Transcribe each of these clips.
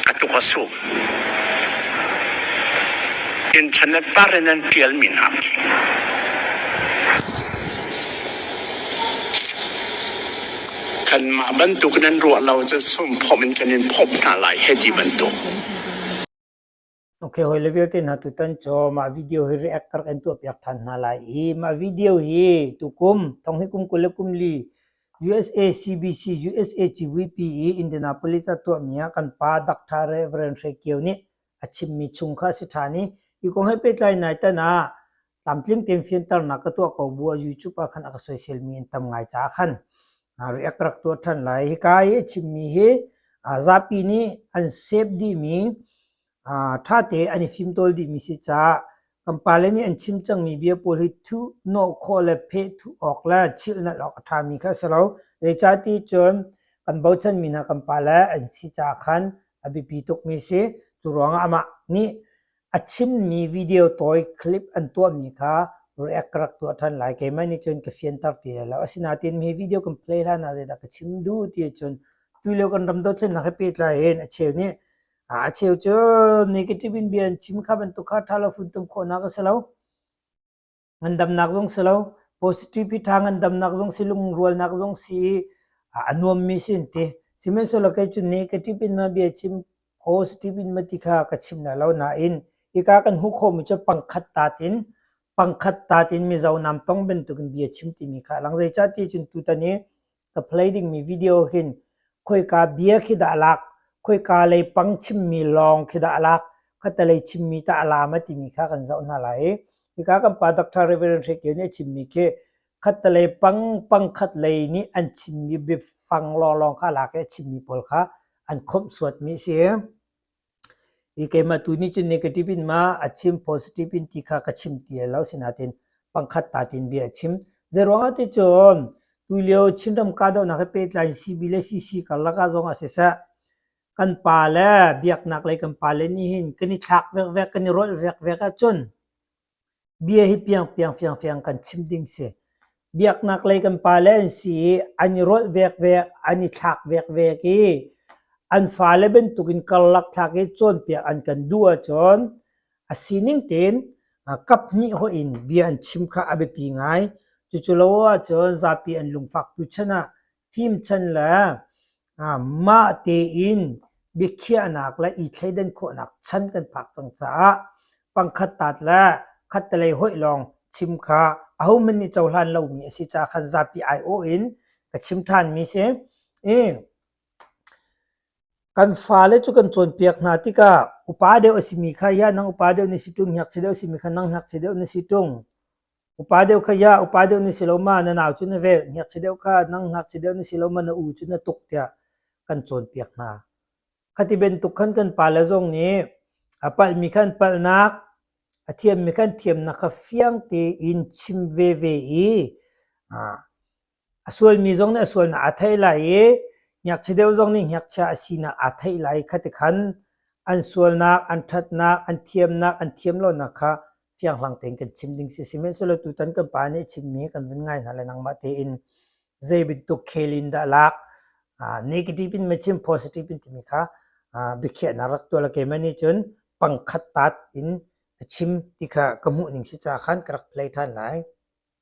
a tuk a suk. Internet par in an ṭialmi hna khi kanmah bantuk in an ruah lo cun sum phomh in kan in phomh hna lai hei ti bantuk. Ok, hawi le vialte hna tutan cu mah video hi react ka rak in tuahpiak ṭhan hna lai i mah video hi tukum thong hi kum kul le kum li USA CBC USA CVP i Indianapolis ah tuahmi ah kan pa Dr. Reverend Hre Kio nih a chimmi chung kha a si ṭhan i hi kong he pehtlai nai tan ah tlamtling tein fianternak ka tuah ko bu ah YouTube ah khan a ka social mi in tam ngai caah khan react rak tuah ṭhan lai hika i chimmi hi zapi nih an save dihmi ṭhate an i fimtawl dihmi si caah kan pale nih an chim cangmi bia pawl hi thuh hnawh khawh le pheh thuh awk le chilhnalh awk a ṭhami kha a si lo zeicah ti cun kan bochanmi hna kan pale an si caah khan a biapi tukmi si cu ruangah amah nih A chimmi video tawi clip an tuahmi kha react ka rak tuah ṭhan lai. Keimah nih cun ka fianter ti lai lo. Asinain hi video kan play hlan ah zeidah ka chim duh ti cun tulio kan ram dothlennak he pehtlai hin a cheu nih a cheu cu negative in bia an chim kha bantuk kha ṭha lo funtum khawhnak a si lo. ngandamnak zong si lo positivity tha ngandamnak zong si lungrualnak zong si i a nuammi si an ti sihmanhsehlaw kei cu nih ka tipin ma bia chim positive in ma ti kha ka chim na lo nain hika kan hmuh khawhmi cu pangkhat tatin pangkhat tatin mizo nam tong bantukin bia chim timi kha lang zei cah ti cun tutan i ka play dingmi video hin khoika bia khi dah lak khoika leipang chimmi lawng khi dah lak khatalei chimmi tah laam a timi kha kan zoh hna lai hika kan pa Dr. Reverend Hre Kio nih a chimmi khi khatalei pang pangkhat lei nih an chimmi biafang lawnglawng kha lak i a chimmi pawl kha an khomh suatmi a si. i keimah tu nih cun negative in ma a chim positive in ti kha ka chim ti lai lo sinain pangkhat tatin bia a chim zeiruangah ti cun tulio Chinram kahdohnak he pehtlai CB le CC karlak ah zong ah siseh kan pa le biaknak lei kan pa le nih hin kan i thlak vekvek kan i rolh vekvek ahcun Bia hi piangpiang fiangfiang kan chim ding si. Biaknak lei kan pale an si i an i rolh vekvek, an i thlak vekvek i an fale bantukin karlak thlak i cawnpiak an kan duh ahcun a sining tein kap hnih hoih in bia an chim kha a biapi ngai. Cucu lo ahcun zapi an lungfaktu chan ah Fimchan le mah tein biakhiahnak le i thleidan khawhnak chan kan phak cang caah pangkhat taat le khattelei hoih lawng chim kha ahohmanh nih cohlan lomi a si caah khan zapi aiawh in ka chim ṭhanmi si. Kan fale cu kan cawnpiak hna tikah upa deuh a simi kha hiah nang upa deuh na si ṭung, hniakchia deuh a simi kha nang hniakchia deuh na si ṭung. Upa deuh kha ya, upa deuh na si lo ma, na nau cu na velh, ngakchia deuh kha nang ngakchia deuh na si lo ma, na u cu na tuk tiah kan cawnpiak hna. Khati bantuk khan kan pale zong nih a palhmi khan palhnak, a thiammi khan thiamnak kha fiang tein chim veve i A sualmi zong nih a sualnak aa theih lai i ngakchia deuh zong nih ngakchia a sinak aa theih lai kha ti khan an sualnak, an ṭhatnak, an thiamnak, an thiam lonak kha fianghlang tein kan chim ding si. Sihmanhsehlaw tutan kan pa nih a chimmi hi kan vun ngai hna le nangmah tein zei bantuk khel in dah lak negative in ma chim positive in timi kha biakhiahnak rak tuah le keimah nih cun pangkhat taat in a chim ti kha ka hmuh ning si caah khan ka rak play ṭhan lai.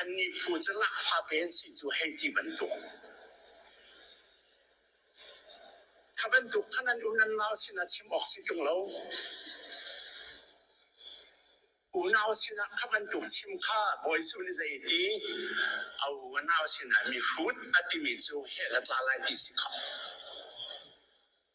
Annih phu cu Lahfate an si cu hei ti bantuk. Kha bantuk khan an um an nau sinah chim awk si ṭung lo. Unau sinah kha bantuk chim kha Bawi Suh nih zei ti a u a nau sinah mihrut a timi cu hell a tla lai ti si khawh.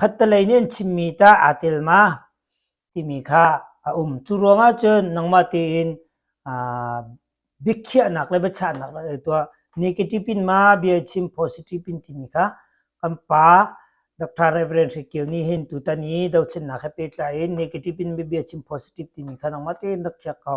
Khattelei nih an chimmi tah aa tel ma? timi kha a um. Cu ruangah cun nangmah tein aa biakhiahnak le biachahnak na ngei tuah. Negative in ma bia chim, positive in timi kha kan pa Dr. Reverend Hri Kio nih hin tutan i dothlennak he pehtlai in negative in bia chim, positive timi kha nangmah tein rak khiak ko.